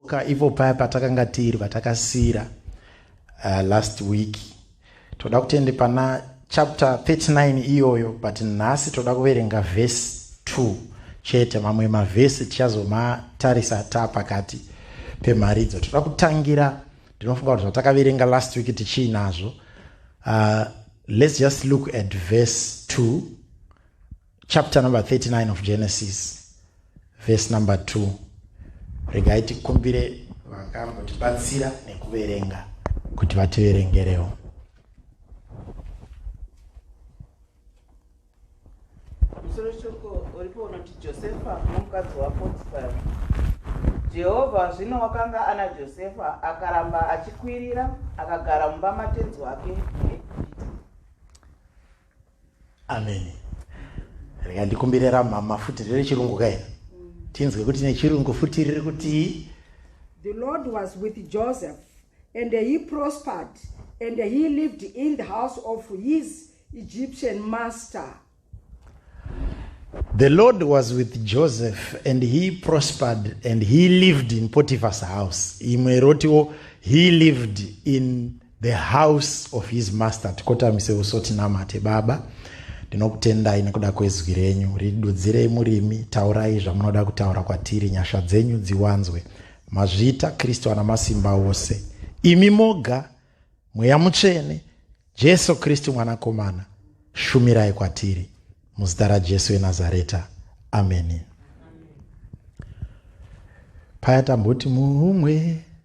ka ipo paya patakanga tiri patakasiira uh, last week toda kutende pana chapter 39 iyoyo but nhasi toda kuverenga vhesi 2 chete mamwe mavhesi tichazomatarisa ta pakati pemharidzo toda kutangira ndinofunga kuti zvatakaverenga last week tichiinazvo uh, let's just look at vhesi 2 chapter number 39 of genesis verse number 2 regai tikumbire vakambotibatsira nekuverenga kuti vativerengerewo musoro shoko uripo unoti josefa nomukadzi wapotifari jehovha zvino wakanga ana josefa akaramba achikwirira akagara mumba matenzi wake ameni rega ndikumbire ramama futi riri chirungu kaina tinzwe kuti nechirungu futi riri kuti the lord was with joseph and he prospered and he lived in the house of his egyptian master the lord was with joseph and he prospered and he lived in potiphar's house imwe rotiwo he lived in the house of his master tikotamise uso tinamate baba ndinokutendai nekuda kwezwi renyu ridudzirei murimi taurai zvamunoda kutaura kwatiri nyasha dzenyu dziwanzwe mazvita kristu ana masimba ose imi moga mweya mutsvene jesu kristu mwanakomana shumirai kwatiri muzita rajesu enazareta ameni paya tamboti mumwe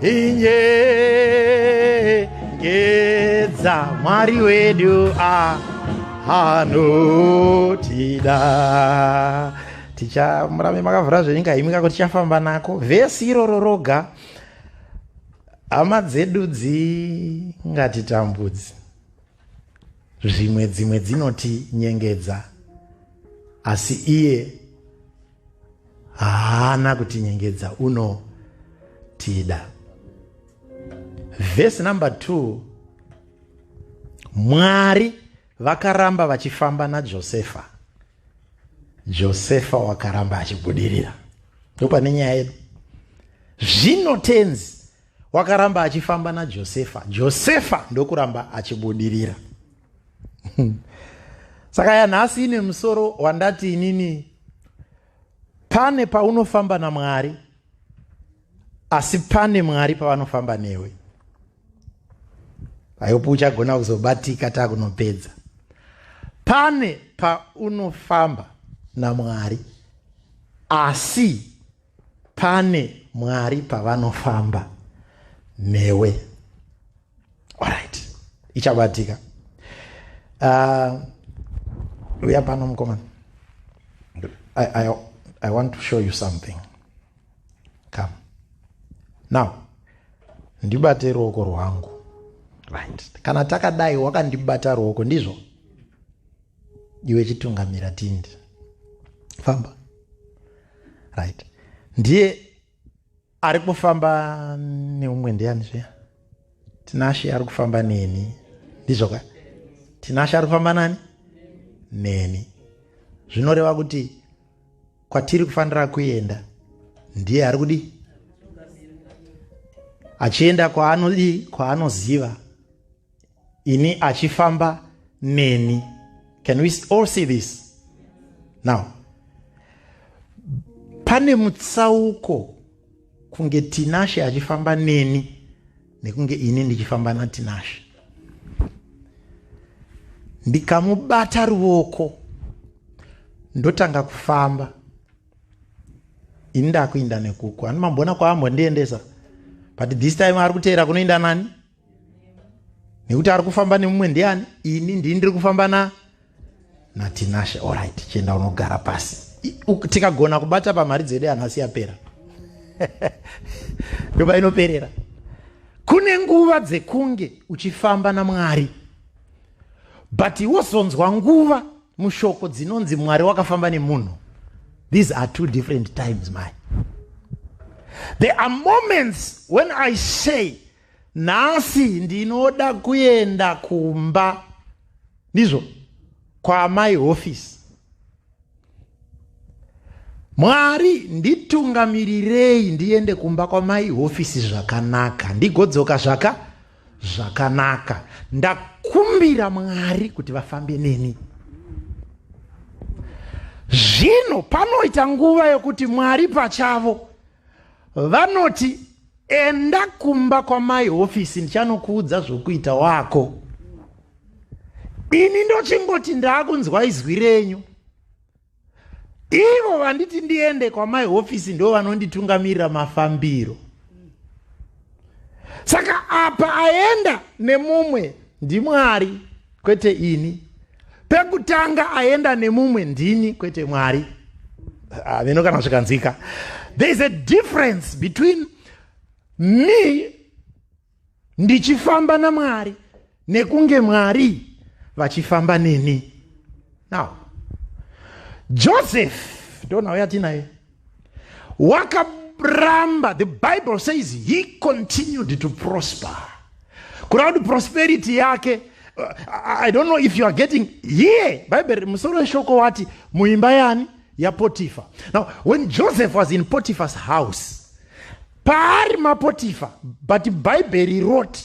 inyengedza mwari wedu anotida tichamurambe makavhura zvenyika imika kuti tichafamba nako vhesi iroro roga hama dzedu dzingatitambudzi zvimwe dzimwe dzinoti nyengedza asi iye haana kutinyengedza unotida vhesi number 2 mwari vakaramba vachifamba najosefa josefa wakaramba achibudirira ndopane nyaya yedu zvino tenzi wakaramba achifamba najosefa josefa ndokuramba achibudirira saka yanhasi ine musoro wandati inini pane paunofamba namwari asi pane mwari pavanofamba newe aiupi uchagona kuzobatika takunopedza pane paunofamba namwari asi pane mwari pavanofamba newe alright ichabatika uh, uya pano mukomana I, I, i want to show you something come now ndibate ruoko rwangu right kana takadai wakandibata ruoko ndizvo iwe chitungamira tindi famba right ndiye ari kufamba neumwe ndiani zviya tinashe ari kufamba neni ndizvoka tinashe ari kufamba nani neni zvinoreva kuti kwatiri kufanira kuenda ndiye ari kudi achienda kwaanodii kwaanoziva ini achifamba neni can we all see this now pane mutsauko kunge tinashe achifamba neni nekunge ini ndichifamba natinashe ndikamubata ruoko ndotanga kufamba ini ndakuinda nekuku ani mamboona kwaambo ndiendesa but this time ari kuteera kunoinda nani nekuti ari kufamba nemumwe ndiani ini ndii ndiri kufamba na natinashe orit chienda unogara pasi tikagona kubata pamari dzedu anhu asi yapera ndoba inoperera kune nguva dzekunge uchifamba namwari but wozonzwa nguva mushoko dzinonzi mwari wakafamba nemunhu these are two different times my there are moments when i say nhasi ndinoda kuenda kumba ndizvo kwaamai hofisi mwari nditungamirirei ndiende kumba kwamai hofisi zvakanaka ndigodzoka zvaka zvakanaka ndakumbira mwari kuti vafambe neni zvino panoita nguva yokuti mwari pachavo vanoti enda kumba kwamai hofisi ndichanokuudza zvokuita wako ini ndochingoti ndaakunzwa izwi renyu ivo vanditi ndiende kwamai hofisi ndo vanonditungamirira mafambiro saka apa aenda nemumwe ndimwari kwete ini pekutanga aenda nemumwe ndini kwete mwari haveno ah, kana zvikanzika there is a difference between me ndichifamba namwari nekunge mwari vachifamba neni now joseph ndonhau yatinaye wakaramba the bible says he continued to prosper kureva kuti prosperity yake uh, i don't know if you are getting here bible musoro weshoko wati muimba yani yapotifa now when joseph was in potifa's house paari mapotifa but bhaibheri roti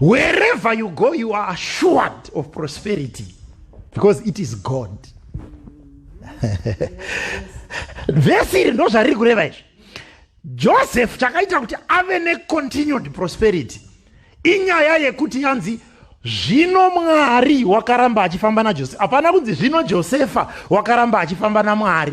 wherever you go you are assured of prosperity because it is god vhesi iri ndo zvariri kureva izvi joseph chakaita kuti ave necontinued prosperity inyaya yekuti yanzi zvino mwari wakaramba achifamba najosefa hapana kunzi zvino josefa wakaramba achifamba namwari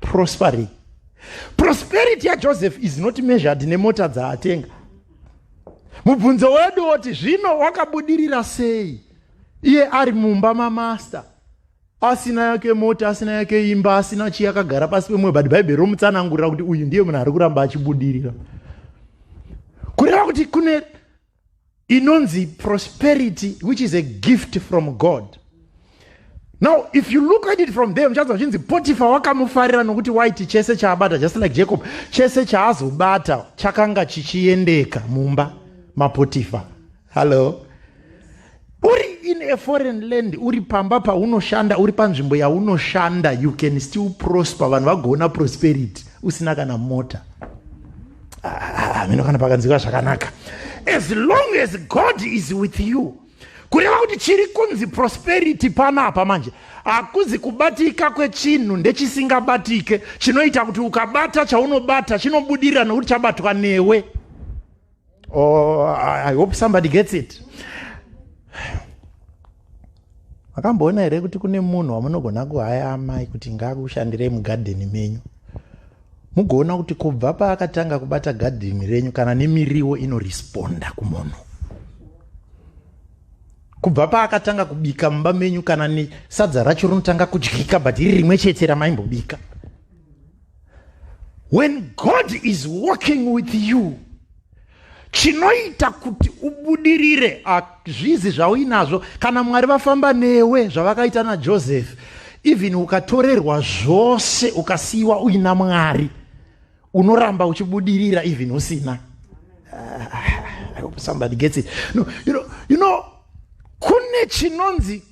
prospering prosperity yajoseph is not measured nemota dzaatenga mubvunzo wedu woti zvino wakabudirira sei iye ari mumba mamaster asina yake mota asina yake imba asina chii akagara pasi pemwoyo but bhaibheri romutsanangurira kuti uyu ndiye munhu ari kuramba achibudirira kureva kuti kune inonzi prosperity which is a gift from god now if you look at it from there muchanzwa zvichinzi potifa wakamufarira nokuti waiti chese chaabata just like jacob chese chaazobata chakanga chichiendeka mumba mapotifa hallo uri in a foreign land uri pamba paunoshanda uri panzvimbo yaunoshanda you can still prosper vanhu vagoona prosperity usina kana mota hameno ah, ah, ah, kana pakanzika zvakanaka as long as god is with you kureva kuti chiri kunzi prosperity panapa manje hakuzi kubatika kwechinhu ndechisingabatike chinoita kuti ukabata chaunobata chinobudirira nokuti chabatwa newe oh, i hope somebody gets it makamboona here kuti kune munhu wamunogona kuhaya amai kuti ngaakushandirei mugadheni menyu mugoona kuti kubva paakatanga kubata gadheni renyu kana nemiriwo inoresponda kumunhu kubva paakatanga kubika mumba menyu kana nesadza racho rinotanga kudyika but iri rimwe chete ramaimbobika when god is working with you chinoita kuti ubudirire hazvizi zvauinazvo kana mwari vafamba newe zvavakaita najoseph even ukatorerwa zvose ukasiyiwa uina mwari unoramba uchibudirira even usina ah, somebody gets it no, you know, you know kune chinonzi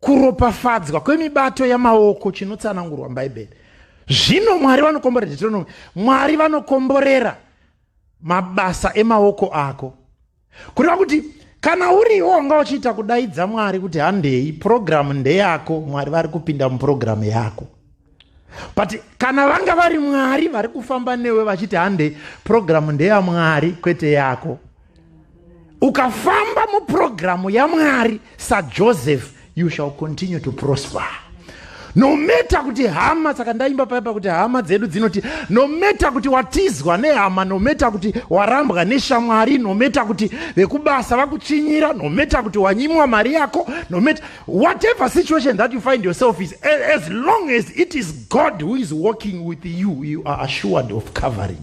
kuropafadzwa kwemibato yamaoko chinotsanangurwa mubhaibheri zvino mwari vanokomborera deuteronomy mwari vanokomborera mabasa emaoko ako kureva kuti kana uriwo wanga uchiita kudaidza mwari kuti handei purogiramu ndeyako mwari vari kupinda mupurogiramu yako but kana vanga vari mwari vari kufamba newe vachiti handei purogiramu ndeyamwari kwete yako ukafamba mupurogiramu yamwari sajoseph you shall continue to prosper no matter kuti hama saka ndaimba paipa kuti hama dzedu dzinoti no matter kuti watizwa nehama no matter kuti warambwa neshamwari no matter kuti vekubasa vakutsvinyira no matter kuti wanyimwa mari yako no matter whatever situation that you find yourself is as long as it is god who is walking with you you are assured of covering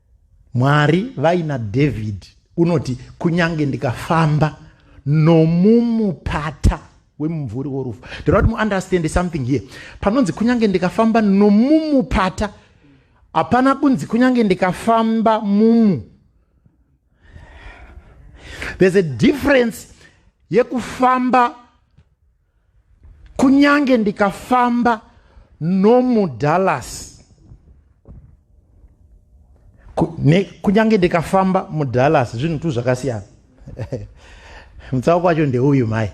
mwari vaina david unoti kunyange ndikafamba nomumupata wemumvuri worufu ndoda kuti muunderstande something here panonzi kunyange ndikafamba nomumupata hapana kunzi kunyange ndikafamba mumu there's a difference yekufamba kunyange ndikafamba nomudallas kunyange ndikafamba mudallas zvinhu tu zvakasiyana mutsauko wacho ndeuyu mhai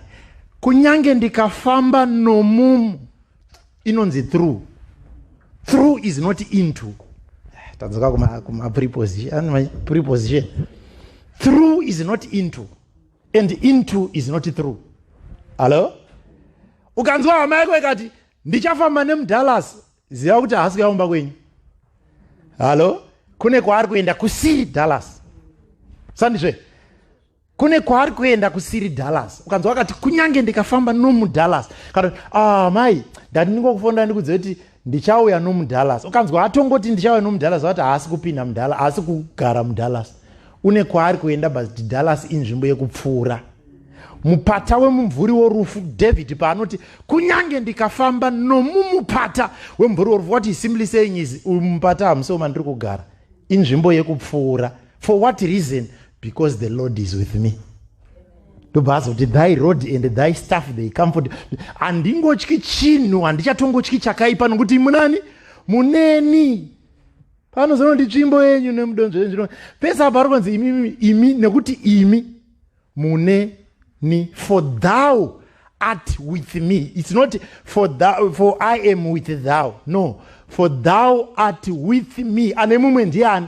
kunyange ndikafamba nomumu inonzi through through is not into eh, tadzoka kumapreposition through is not into and into is not through hallo ukanzwa hama yako ikati ndichafamba nemudallas ziva kuti haasi kuyaumba kwenyu hallo kune kwaari kuenda kusiri dallas sandizve kune kwaari kuenda kusiri dallas ukanzwa wakati kunyange ndikafamba nomudallas kana ah mai ndati ndingokufonda ndikuziva kuti ndichauya nomudallas ukanzwa atongoti ndichauya nomudallas vati haasi kupinda mudallas haasi kugara mudallas une kwaari kuenda but dallas inzvimbo yekupfuura mupata wemumvuri worufu david paanoti kunyange ndikafamba nomumupata wemumvuri worufu what is simply saying is uyu mupata hamusi wemandiri kugara inzvimbo yekupfuura for what reason because the lord is with me ndobva azoti thy road and thy staff they comfort handingotyi chinhu handichatongotyi chakaipa nokuti munani muneni panozono ndi tsvimbo yenyu nemudonzvo yenyu zvino pese apa ari kunzi imi imi nekuti imi muneni for thou art with me it's not for, thou, for i am with thou no for thou art with me ane mumwe ndiani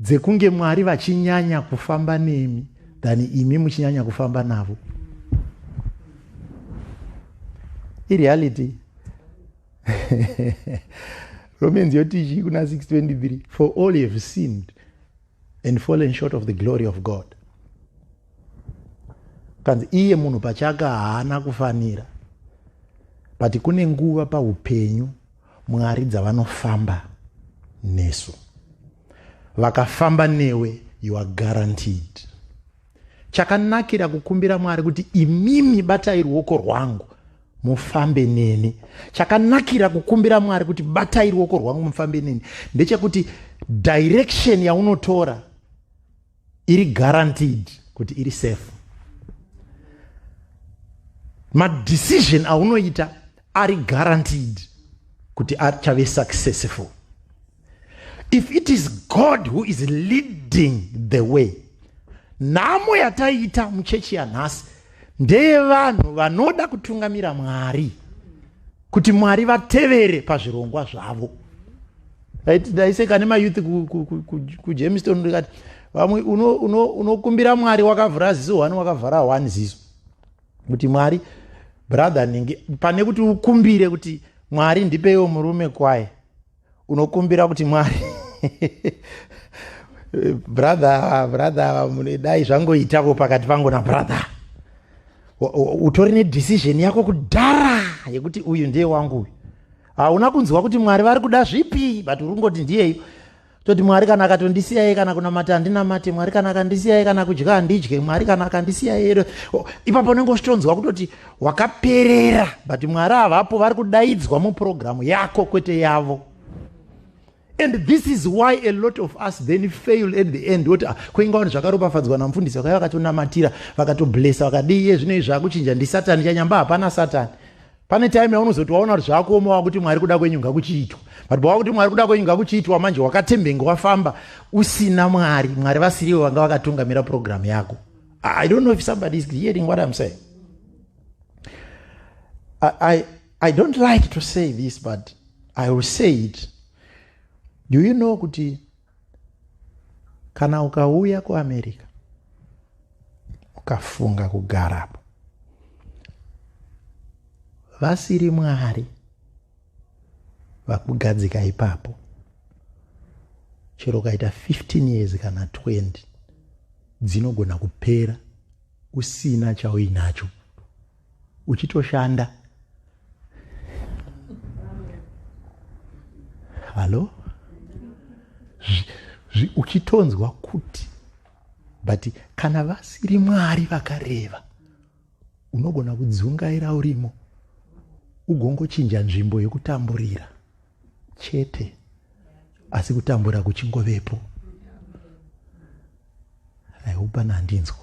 dzekunge mwari vachinyanya kufamba nemi than imi muchinyanya kufamba navo ireality romans yotichi kuna 623 for all you have sinned and fallen short of the glory of god kanzi iye munhu pachaka haana kufanira but kune nguva paupenyu mwari dzavanofamba nesu vakafamba newe you are guaranteed chakanakira kukumbira mwari kuti imimi batai ruoko rwangu mufambe neni chakanakira kukumbira mwari kuti batai ruoko rwangu mufambe neni ndechekuti direction yaunotora iri guaranteed kuti iri safe madecision aunoita ari guaranteed kuti achave successful if it is god who is leading the way nhamo yataiita muchechi yanhasi ndeyevanhu vanoda kutungamira mwari kuti mwari vatevere pazvirongwa zvavo ndaiseka nemayouth kujamestown ndikati vamwe unokumbira mwari wakavhura ziso one wakavhara one ziso kuti mwari brother ningi pane kuti ukumbire kuti mwari ndipeiwo murume kwaye unokumbira kuti mwari brother brother dai zvangoitavo pakati pangu nabrother utori nedecision yako kudhara yekuti uyu ndiye wangu uyu hauna kunzwa kuti mwari vari kuda zvipi but uri kungoti ndiyeyo toti mwari kana akatondisiyai kana kunamata handinamate mwari kana akandisiyai kana kudya handidye mwari kana akandisiyai ipapo unenge uchitonzwa kutoti wakaperera but mwari havapo vari kudaidzwa mupurogiramu yako kwete yavo and this is why a lot of us then fail at the end woti ah, kwainga vanhu zvakaropafadzwa namufundisi vakaiva vakatonamatira vakatoblesa vakadii iye zvino izvi akuchinja ndisatani chanyamba hapana satani pane time yaunozoti waona kuti zvakuoma wakuti mwari kuda kwenyu ngakuchiitwa but bawakuti mwari kuda kwenyu ngakuchiitwa manje wakatembenga wafamba usina mwari mwari vasiriwo vanga vakatungamira programu yako i don't know if somebody is hearing what im saying I, I, i don't like to say this but i will say it do you know kuti kana ukauya kuamerica ukafunga kugarapo vasiri mwari vakugadzika ipapo chero ukaita 15 years kana 20 dzinogona kupera usina chauinacho uchitoshanda hallo uchitonzwa kuti but kana vasiri mwari vakareva unogona kudzungaira urimo ugongochinja nzvimbo yekutamburira chete asi kutambura kuchingovepo aihupana handinzwa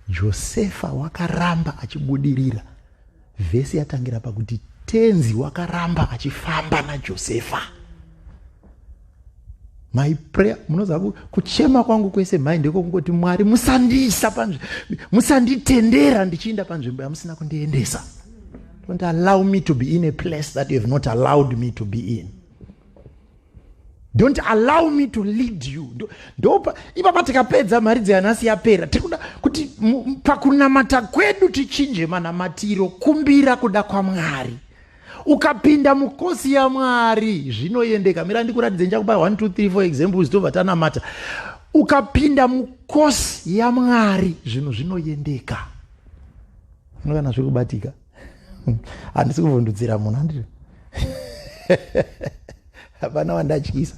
josefa wakaramba achibudirira vhesi yatangira pakuti tenzi wakaramba achifamba najosefa my prayer munoziva kuchema kwangu kwese mhai ndiko kungoti mwari musandiisa panzvimbo musanditendera ndichiinda panzvimbo yamusina kundiendesa don't allow me to be in a place that you have not allowed me to be in don't allow me to lead you ndopa ipapa tikapedza mari dzeanasi yapera tikuda kuti pakunamata kwedu tichinje manamatiro kumbira kuda kwamwari ukapinda mukosi yamwari zvinoendeka mira ndikuratidze ndichakupa 1 2 3 4 examples tobva tanamata ukapinda mukosi yamwari zvinhu zvinoendeka unokana zviri kubatika handisi kuvhundudzira munhu andiri hapana wandatyisa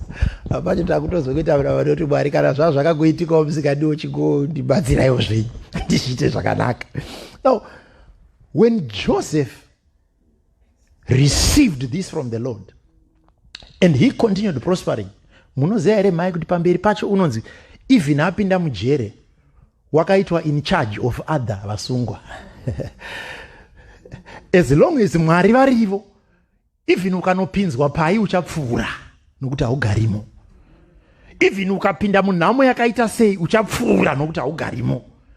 hapacho takutozokuitaura vanoti mwari kana zvaa zvakakuitikawo musikadiwo chingondibatsiraiwo zvenyu ndizviite zvakanaka now when joseph received this from the lord and he continued prospering munoziva here mhai kuti pamberi pacho unonzi even apinda mujere wakaitwa in charge of other vasungwa as long as mwari varivo even ukanopinzwa pai uchapfuura nokuti haugarimo even ukapinda munhamo yakaita sei uchapfuura nokuti haugarimo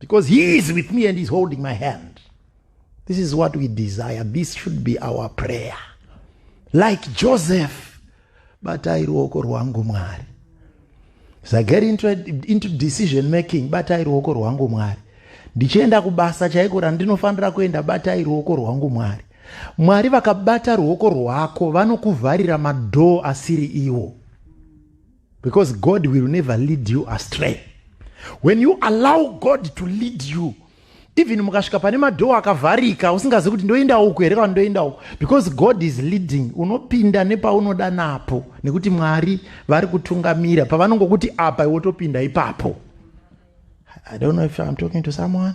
because he is with me and he's holding my hand this is what we desire this should be our prayer like joseph batai ruoko rwangu mwari as i get into, into decision making batai ruoko rwangu mwari ndichienda kubasa chaiko randinofanira kuenda batai ruoko rwangu mwari mwari vakabata ruoko rwako vanokuvharira madhoo asiri iwo because god will never lead you astray when you allow god to lead you even mukasvika pane madhoo akavharika usingazi kuti ndoenda uku here kana ndoenda uku because god is leading unopinda nepaunoda napo nekuti mwari vari kutungamira pavanongokuti apa iwotopinda ipapo i don't know if im talking to someone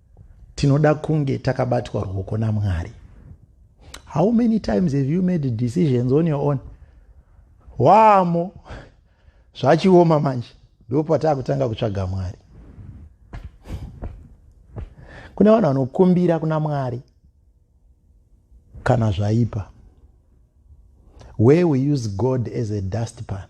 tinoda kunge takabatwa ruoko namwari how many times have you made decisions on your own wamo zvachioma manje ndo pataa kutanga kutsvaga mwari kune vanhu vanokumbira kuna mwari kana zvaipa where we use god as a dustpan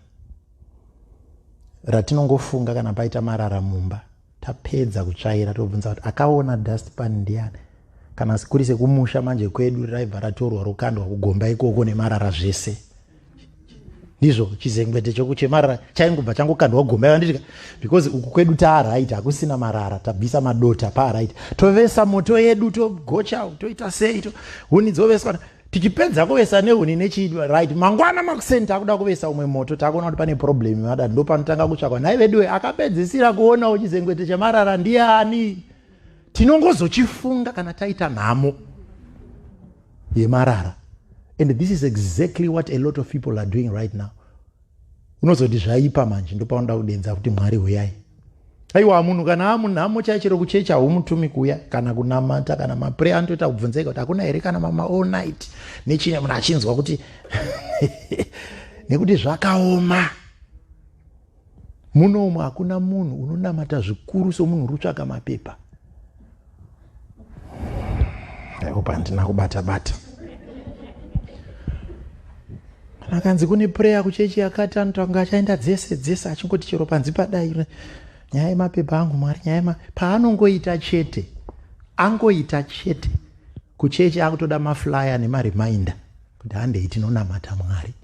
ratinongofunga kana paita marara mumba tapedza kutsvaira tobvunza kuti akaona dustpan ndiani kana kuri sekumusha manje kwedu raibva ratorwa rokandwa kugomba ikoko nemarara zvese ndizvo chizengwete chokuchemarara chaingobva changokandwa gomba yavanditi because uku kwedu taaraiti hakusina marara tabvisa madota paaraiti tovesa moto yedu togocha toita sei to huni dzoveswa tichipedza kuvesa nehuni nechii right mangwana makuseni takuda kuvesa umwe moto takuona kuti pane problem madad ndo panotanga kutsvakwa nhai veduwe akapedzisira kuonawo chizengwete chemarara ndiani tinongozochifunga kana taita nhamo yemarara and this is exactly what a lot of people are doing right now unozoti zvaipa manje ndopaunoda kudenza kuti mwari huyai aiwa munhu kana amunhamo chai chero kuchechi haumutumi kuya kana kunamata kana mapre anotoita kubvunzeka kuti hakuna here kana mama all night nechine munhu achinzwa kuti nekuti zvakaoma munomu hakuna munhu unonamata zvikuru somunhu uri kutsvaka mapepa aihope handina kubata bata akanzi kune prayer kuchechi yakati anotanga achaenda dzese dzese achingoti chero panzi padai nyaya yemapepa angu mwari nyaya paanongoita chete angoita chete kuchechi akutoda maflyer nemareminder kuti handei tinonamata mwari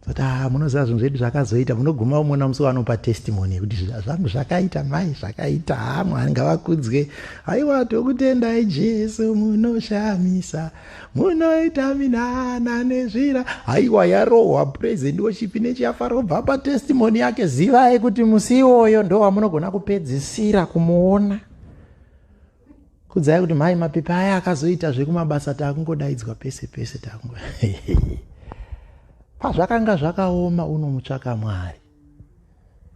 zata ah, munoziva zvinhu zvedu zvakazoita munoguma umona musi wanopa testimony yekuti zvangu zvakaita mai zvakaita ha mwari ngavakudzwe haiwa tokutendai jesu munoshamisa munoita minana nezvira haiwa yarohwa president woshipi nechiyafara obva pa testimony yake zivai kuti musi iwoyo ndowamunogona kupedzisira kumuona kudzai kuti mhai mapepa aya akazoita zvekumabasa taakungodaidzwa pese pese takungo pazvakanga zvakaoma unomutsvaka mwari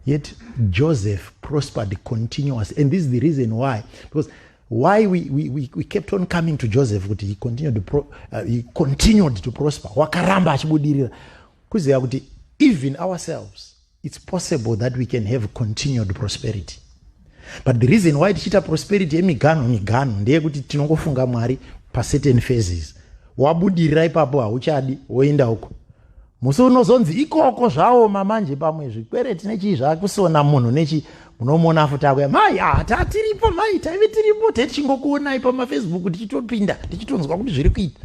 yet joseph prospered continuous and this is the reason why because why we, we, we, we kept on coming to joseph kuti he continued to, pro, uh, he continued to prosper wakaramba achibudirira kuziva kuti even ourselves It's possible that we can have continued prosperity. But the reason why tichiita prosperity yemiganho miganho ndeyekuti tinongofunga Mwari pacertain phases. Wabudirira ipapo hauchadi woenda uko. Musi unozonzi ikoko zvaoma manje pamwe zvikwereti nechii zvakusona munhu nechii munomuona futi akuya mai ah, taa tiripo mai taive tiripo tee tichingokuonai pamafacebook tichitopinda tichitonzwa kuti zviri kuita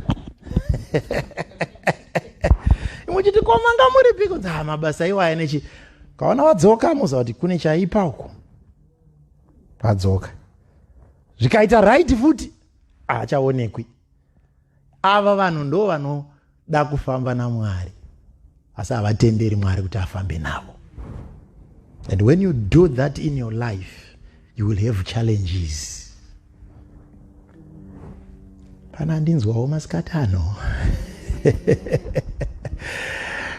imwe chiti komanga muri piko dza mabasa iwaya nechi kaona vadzoka moziva kuti kune chaipa uko vadzoka zvikaita right futi haachaonekwi ava vanhu ndo vanoda kufamba namwari asi havatenderi mwari kuti afambe navo and when you do that in your life you will have challenges kana ndinzwawo masikati ano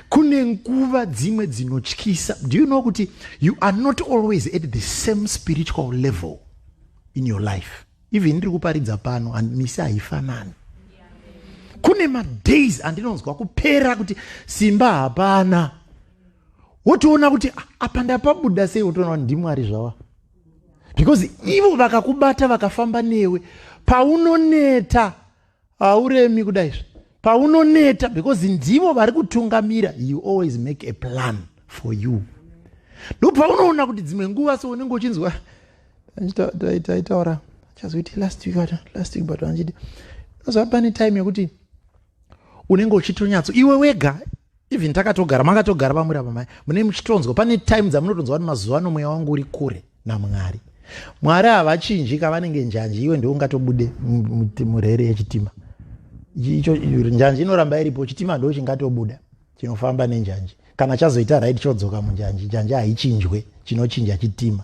kune nguva dzimwe dzinotyisa do you know kuti you are not always at the same spiritual level in your life even ndiri kuparidza pano and misi haifanani kune madays andinonzwa kupera kuti simba hapana wotoona kuti ah, apa ndapabuda sei wotoona kuti ndimwari zvava because ivo vakakubata vakafamba newe paunoneta hauremi kudai zve paunoneta because ndivo vari kutungamira you always make a plan for you ndo paunoona kuti dzimwe nguva so unenge uchinzwa taitaura chazoiti last week ata last week but anchiti unoziva pane time yekuti unenge uchitonyatso iwe wega even takatogara makatogara pamuri apa mai mune muchitonzwa pane time dzamunotonzwa kuti mazuva ano mweya wangu uri kure namwari mwari havachinji kavanenge njanji iwe ndiwe ungatobude murere yechitima icho njanji inoramba iripo chitima ndo chingatobuda chinofamba nenjanji kana chazoita right chodzoka munjanji njanji haichinjwe chinochinja chitima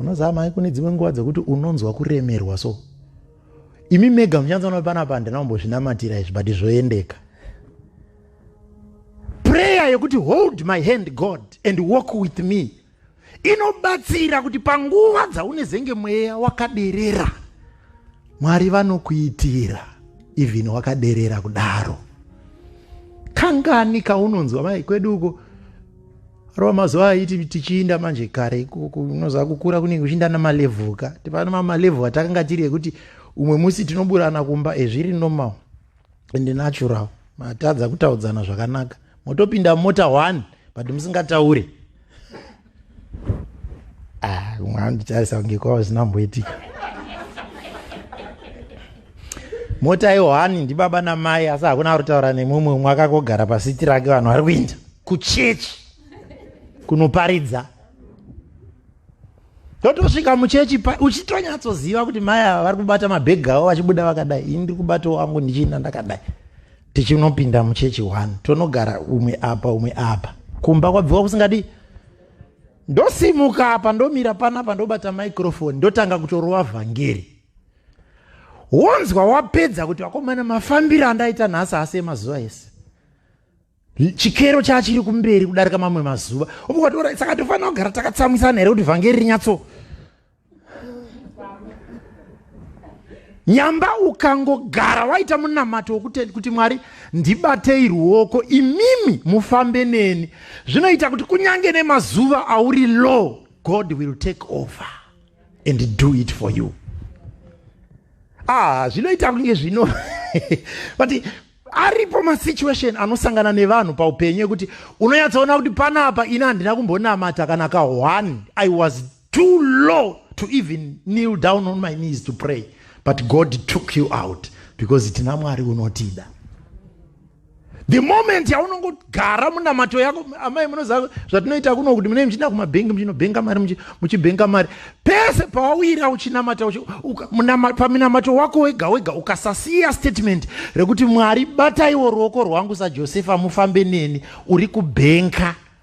unoziva mai kune dzimwe nguva dzekuti unonzwa kuremerwa so imi mega muchanzona panapa handina kumbozvinamatira izvi but zvoendeka prayer yekuti hold my hand god and walk with me inobatsira kuti panguva dzaunezenge mweya wakaderera mwari vanokuitira even wakaderera kudaro kangani kaunonzwa mai kwedu uko rova mazuva aiti tichiinda manje kare ikoko unoziva kukura kunenge uchiinda namalevel ka tipano mamalevel atakanga tiri ekuti umwe musi tinoburana kumba ezviri eh, normal and natural matadza kutaudzana zvakanaka motopinda mota one but musingataure ah, umwe anditarisa kunge kwava zvinamboitika mota yohani ndibaba namai asi hakuna ari kutaura nemumwe umwe akakogara pasiti rake vanhu vari kuinda kuchechi kunoparidza totosvika muchechi uchitonyatsoziva kuti mai ava vari kubata mabhegi avo vachibuda vakadai ini ndiri kubata wangu ndichiinda ndakadai tichinopinda muchechi one tonogara umwe apa umwe apa kumba kwabviwa kusingadii ndosimuka apa ndomira panapa ndobata microfoni ndotanga kutorova vhangeri wonzwa wapedza kuti vakomana mafambiro andaita nhasi asi emazuva ese chikero chachiri kumberi kudarika mamwe mazuva ukatora saka tofanira kugara takatsamwisana here kuti vhangeri rinyatso nyamba ukangogara waita munamato wokutenda kuti mwari ndibatei ruoko imimi mufambe neni zvinoita kuti kunyange nemazuva auri low god will take over and do it for you ah zvinoita kunge zvino but aripo masituation anosangana nevanhu paupenyu ekuti unonyatsoona kuti panapa ini handina kumbonamata kana ka one i was too low to even kneel down on my knees to pray but god took you out because tina mwari unotida the moment yaunongogara munamato yako amai munoziva zvatinoita kuno kuti munee muchienda kumabhengi muchinobhenga mari muchibhenga mari pese pawawira uchinamata paminamato wako wega wega ukasasiya statement rekuti mwari bataiwo ruoko rwangu sajosefa mufambe neni uri kubhenka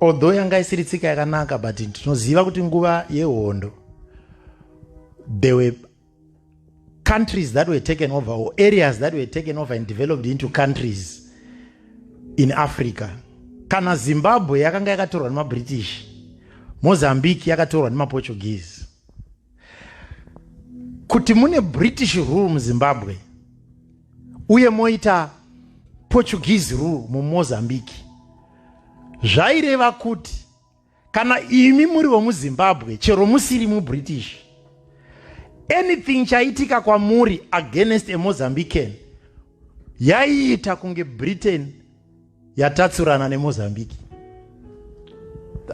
although yanga isiri tsika yakanaka but tinoziva kuti nguva yehondo there were countries that were taken over or areas that were taken over and developed into countries in africa kana zimbabwe yakanga yakatorwa nemabritish mozambique yakatorwa nemaportuguese kuti mune british rule muzimbabwe uye moita portuguese rule mumozambique zvaireva kuti kana imi muri vomuzimbabwe chero musiri mubritish anything chaitika kwamuri against emozambican yaiita kunge britain yatatsurana nemozambique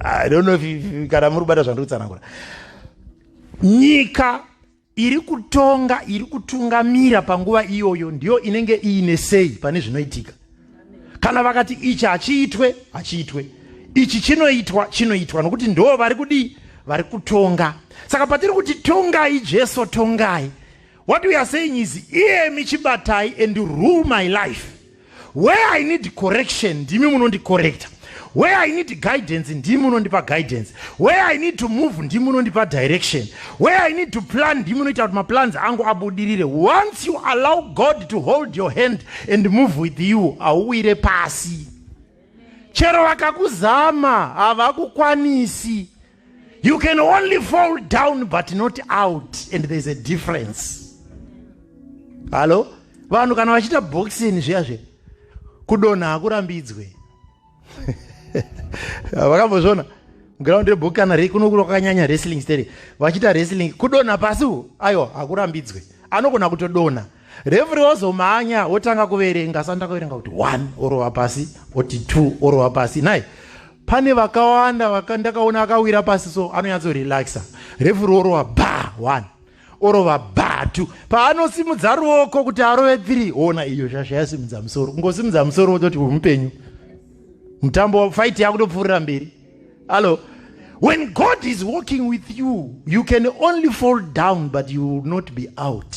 i don't know if kana muri kubata zvandiri kutsanangura nyika iri kutonga iri kutungamira panguva iyoyo ndiyo inenge iine sei pane zvinoitika kana vakati ichi hachiitwe hachiitwe ichi chinoitwa chinoitwa nokuti ndo vari kudii vari kutonga saka patiri kuti tongai jesu tongai what we are saying is iyemi chibatai and rule my life Where I need correction, ndimi munondicorrecta. Where I need guidance, ndimi munondipa guidance. Where I need to move, ndimi munondipa direction. Where I need to plan, ndimi munoita kuti maplans angu abudirire. Once you allow God to hold your hand and move with you, hauwire pasi. Chero vakakuzama, havakukwanisi. You can only fall down but not out and there's a difference. Halo? Vanhu kana vachita boxing zviya zve kudonha hakurambidzwe. Vakambozvona ground rebook kana rei kuno kwakanyanya wrestling steri vachita wrestling kudonha pasi aiwa hakurambidzwe anogona kutodonha Referee ozomhanya otanga kuverenga sanda kuverenga kuti 1 orova pasi oti 2 orova pasi nai pane vakawanda vakandakaona akawira pasi so anonyatso relaxa referee orova ba 1 orova ba 2 paanosimudza ruoko kuti arove 3 ona iyo shasha yasimudza musoro kungosimudza musoro ototi uyu mupenyu mutambo fight yakutopfuurira mberi allo when god is walking with you you can only fall down but you will not be out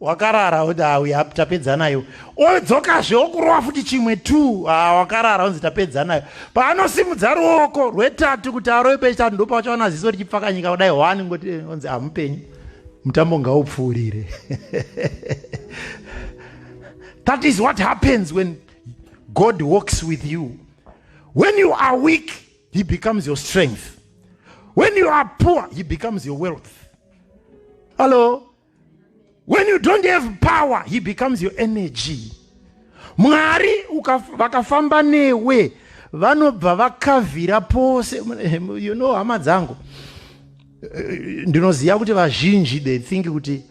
wakarara kuti awi tapedza nayo odzokazve okurova futi chimwe t ah, wakarara onzi tapedza nayo paanosimudza ruoko rwetatu kuti arove pechitatu ndopachaona ziso richipfakanyika kudai hwani ngoti eh, onzi hamupenyu ah, mutambo ngaupfuurire that is what happens when god walks with you when you are weak he becomes your strength when you are poor he becomes your wealth hallo when you don't have power he becomes your energy mwari vakafamba newe vanobva vakavhira pose you know hama dzangu eh, ndinoziva kuti vazhinji they think kuti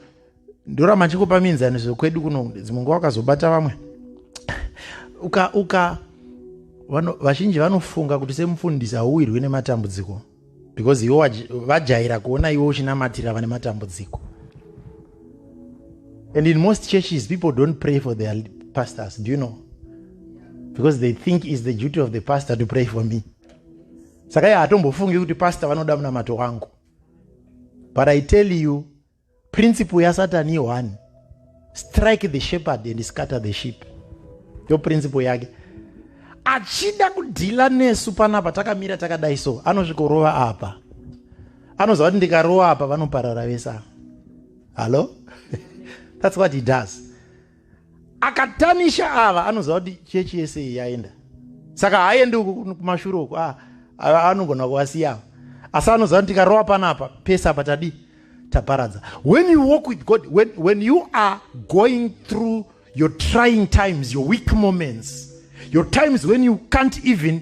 ndoramba ndichingopa mienzaniso kwedu kuno dzimwe nguva wakazobata vamwe uka uka vazhinji vanofunga kuti semufundisi hauwirwi nematambudziko because iwe vajaira kuona iwe uchinamatira vane matambudziko and in most churches people don't pray for their pastors do you know because they think is the duty of the pastor to pray for me saka iye hatombofungi kuti pastor vanoda munamato wangu but i tell you principle yasatani yohani strike the shepherd and scatter the sheep yo principle yake achida kudhila nesu panapa takamira takadai so anosvikorova apa anoziva kuti ndikarova apa vanoparara vesa hallo that's what he does akatanisha ava anoziva kuti chechi yese iyi yaenda saka haaendi kumashure uku ah, anogona kuvasiyava asi anoziva kuti tikarova panapa pese apa tadii taparadza when you walk with god when, when you are going through your trying times your weak moments your times when you can't even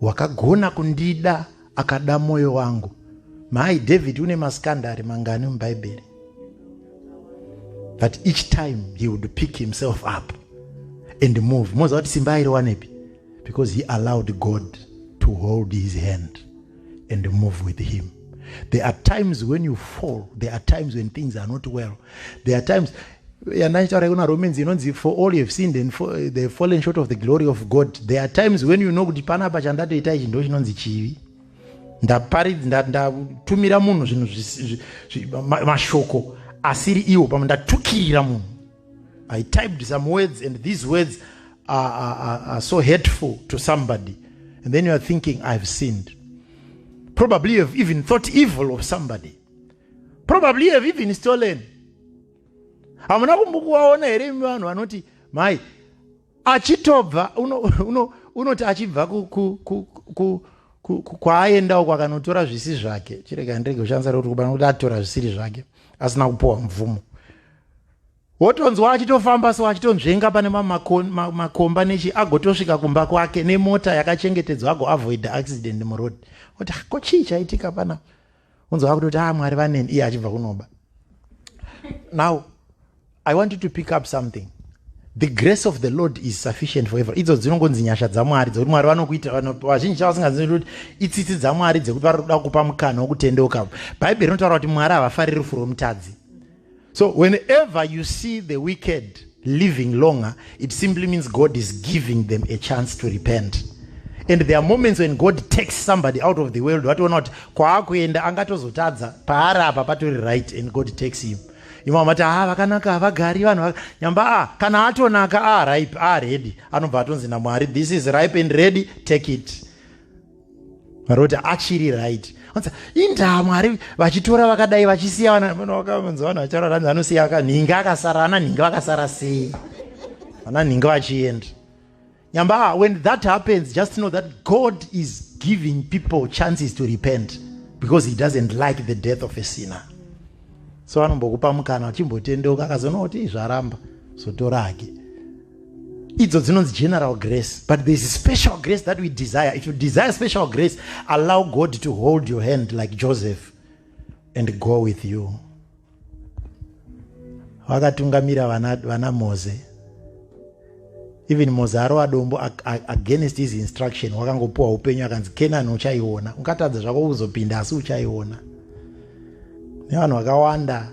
wakagona kundida akada mwoyo wangu mai david une maskandari mangani mubhaibheri but each time he would pick himself up and move moziva kuti simba airiwanepi because he allowed god to hold his hand and move with him there are times when you fall there are times when things are not well there are times yandaichitaura kuna romans inonzi for all you have sinned and for, eh, the fallen short of the glory of god there are times when you know kuti panapa chandatoita ichi ndo chinonzi chivi ndaparidza ndatumira munhu zvinhu mashoko asiri iwo pamwe ndatukirira munhu i typed some words and these words are, are, are so hateful to somebody and then you are thinking i've sinned probably you have even thought evil of somebody probably you have even stolen hamuna kumbokuvaona here imi vanhu vanoti mai achitobva unoti uno, uno achibva ku, ku, ku, ku kwaaendawo kwakanotora zvisi zvake chirega ndirege kushandisa rekuti kubana kuti atora zvisiri zvake asina kupiwa mvumo wotonzwa achitofamba so achitonzvenga pane makomba nechi agotosvika kumba kwake nemota yakachengetedzwa agoavoida accident muroad oti ah, ko chii chaitika pana unzwa kutoti a ah, mwari vaneni iye achibva kunoba now i want you to pick up something the grace of the lord is sufficient for every idzo dzinongonzi nyasha dzamwari dzekuti mwari vanokuita vazhinji chavasingazivi kuti itsitsi dzamwari dzekuti vari kuda kupa mukana wokutendeuka bhaibheri rinotaura kuti mwari havafariri rufu romutadzi So whenever you see the wicked living longer, it simply means God is giving them a chance to repent. And there are moments when God takes somebody out of the world, what not kwaakuenda angatozotadza paari apa patori right and God takes him. Imwe amati ah vakanaka havagari vanhu nyamba ah kana atonaka ah ripe ah ready anobva atonzi naMwari this is ripe and ready take it. varota achiri right onza indaa mwari vachitora vakadai vachisiya vanavakanzi vanhu vachararanzi anosiya akanhinga akasara ana nhinga vakasara sei ana nhinga vachienda nyamba when that happens just know that god is giving people chances to repent because he doesn't like the death of a sinner so anombokupa mukana uchimbotendeuka akazonoti zvaramba zotora hake idzo dzinonzi general grace but thereis special grace that we desire if you desire special grace allow god to hold your hand like joseph and go with you vakatungamira vana, vana moze even moze arova dombo against his instruction wakangopiwa upenyu akanzi kenani uchaiona ungatadza zvako kuzopinda asi uchaiona nevanhu vakawanda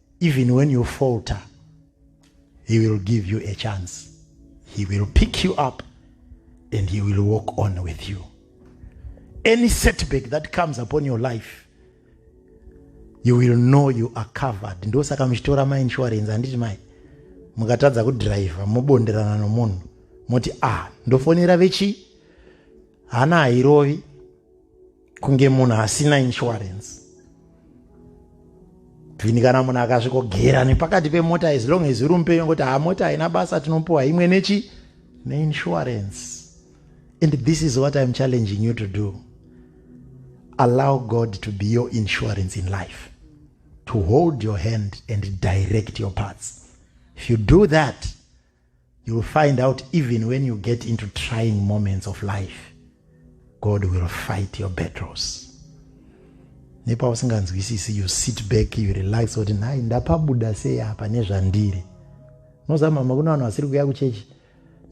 even when you falter he will give you a chance he will pick you up and he will walk on with you any setback that comes upon your life you will know you are covered ndosaka muchitora mainsurance handiti mai mukatadza kudriver mobonderana nomunhu moti a ah, ndofonera vechi hana hairovi kunge munhu asina insurance bvini kana munhu akasvikogera nepakati pemota as long as uri mupenyu kuti haa mota haina basa tinopiwa imwe nechi neinsurance and this is what iam challenging you to do allow god to be your insurance in life to hold your hand and direct your parts if you do that You will find out even when you get into trying moments of life, God will fight your battles. Nepa usinganzwisisi, you sit back, you relax, kuti nhai ndapabuda sei apa nezvandiri. Unoziva mama, kune vanhu vasiri kuuya kuchechi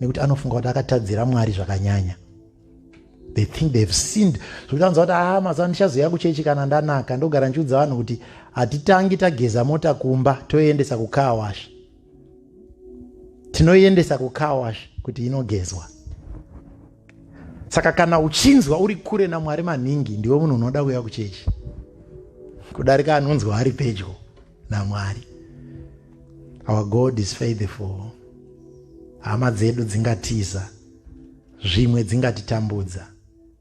nekuti anofunga kuti akatadzira Mwari zvakanyanya. They think they have sinned. Zvekuti anzwa kuti ah, mazuva ndichazoya kuchechi kana ndanaka, ndogara ndichiudza vanhu kuti hatitangi tageza mota kumba toendesa kukaa washa. tinoiendesa kucarwash kuti inogezwa saka kana uchinzwa uri kure namwari maningi ndiwe munhu unoda kuuya kuchechi kudarika anonzwa ari pedyo namwari our god is faithful hama dzedu dzingatiza zvimwe dzingatitambudza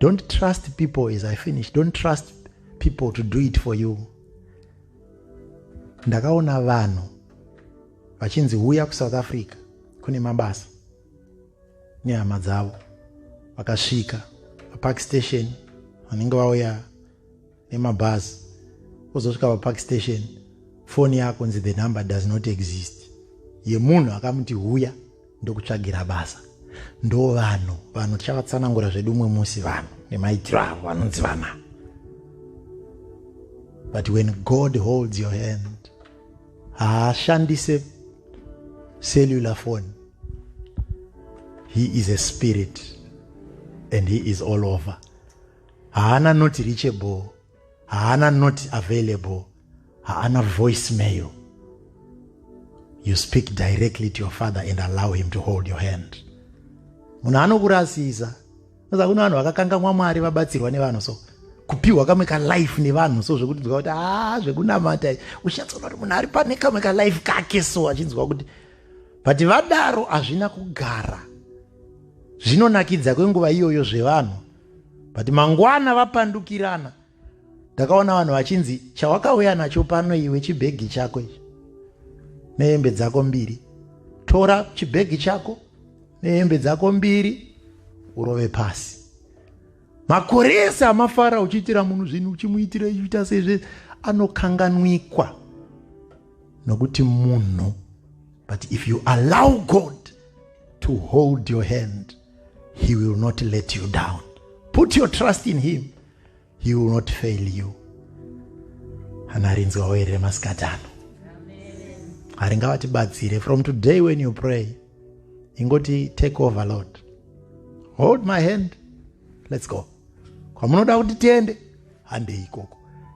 don't trust people as i finish don't trust people to do it for you ndakaona vanhu vachinzi huya kusouth africa kune mabasa nehama dzavo vakasvika papark station vanenge vauya nemabhazi wozosvika papark station foni yako nzi the number does not exist yemunhu akamuti huya ndokutsvagira basa ndo vanhu vanhu tichavatsanangura zvedu umwe musi vanhu nemaitiro avo vanonzi vana but when god holds your hand haashandise cellular phone he is a spirit and he is all over haana not reachable haana not available haana voice mail you speak directly to your father and allow him to hold your hand munhu anokurasisa saka kune vanhu vakakangamwa mwari vabatsirwa nevanhu so kupiwa kamwe kalife nevanhu so zvekuti dzwa kuti haa ah, zvekunamata uchatsoona kuti munhu ari pane kamwe kalife kake so achinzwa kuti but vadaro hazvina kugara zvinonakidza kwenguva iyoyo zvevanhu but mangwana vapandukirana ndakaona vanhu vachinzi chawakauya nacho pano iwe chibhegi chako ichi nehembe dzako mbiri tora chibhegi chako nehembe dzako mbiri urove pasi makore ese amafara uchiitira munhu zvinhu uchimuitira uchiita sezve anokanganwikwa nokuti munhu but if you allow god to hold your hand he will not let you down put your trust in him he will not fail you hana rinzwawo here remasikati ano hari ngavatibatsire from today when you pray ingoti take over lord hold my hand let's go kwamunoda kuti tiende handei ikoko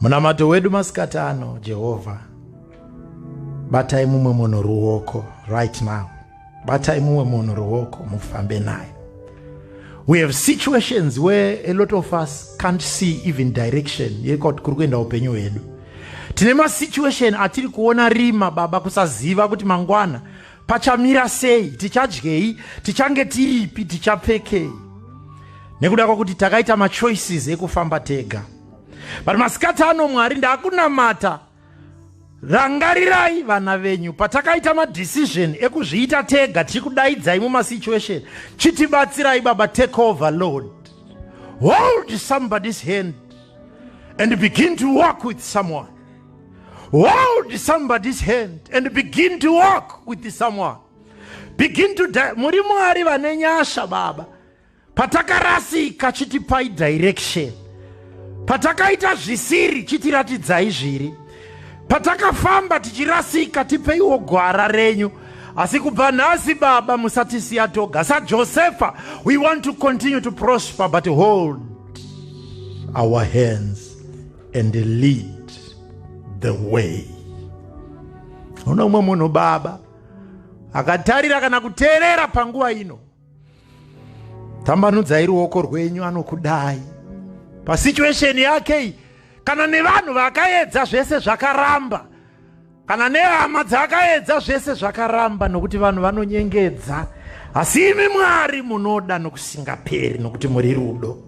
Munamato wedu masikati ano, Jehovha, batai mumwe munhu ruoko right now. Batai mumwe munhu ruoko mufambe naye. We have situations where a lot of us can't see even direction yekut kuri kuenda upenyu hwedu. Tine masituation atiri kuona rima baba kusaziva kuti mangwana pachamira sei tichadyei tichange tiripi tichapfekei nekuda kwakuti takaita machoices ekufamba tega but masikati ano mwari ndakunamata rangarirai vana venyu patakaita madecision ekuzviita tega tiri kudaidzai mumasituation chitibatsirai baba take over lord hold somebody's hand and begin to walk with someone hold somebody's hand and begin to walk with someone begin to muri mwari vane nyasha baba Patakarasika chitipai direction. Patakaita zvisiri chitiratidzai zviri. Patakafamba tichirasika tipeiwo gwara renyu. Asi kubva nhasi baba musatisiya toga. Sa Josefa, we want to continue to prosper but hold our hands and lead the way. Uno umwe munhu baba akatarira kana kuteerera panguva ino. tambanudzai ruoko rwenyu anokudai pasituation yake iyi kana nevanhu vakaedza zvese zvakaramba kana nehama dzakaedza zvese zvakaramba nokuti vanhu vanonyengedza asi imi mwari munoda nokusingaperi nokuti muri rudo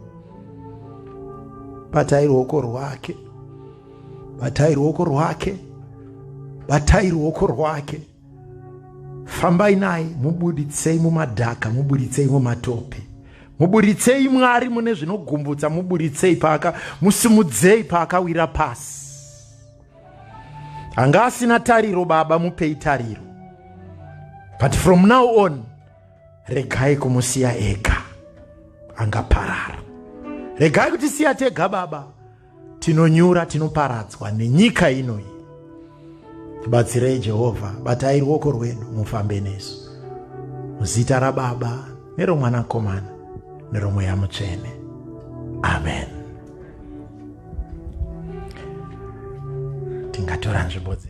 batai ruoko rwake batai ruoko rwake batai ruoko rwake fambai naye mubuditsei mumadhaka mubuditsei mumatope mubuditsei mwari mune zvinogumbutsa mubuditsei paaka musimudzei paakawira pasi anga asina tariro baba mupei tariro but from now on regai kumusiya ega angaparara regai kutisiya tega baba tinonyura tinoparadzwa nenyika ino iyi tibatsirei jehovha batai ruoko rwedu mufambe nesu muzita rababa neromwanakomana neromweya mutsvene amen tingatora nzvimbo dze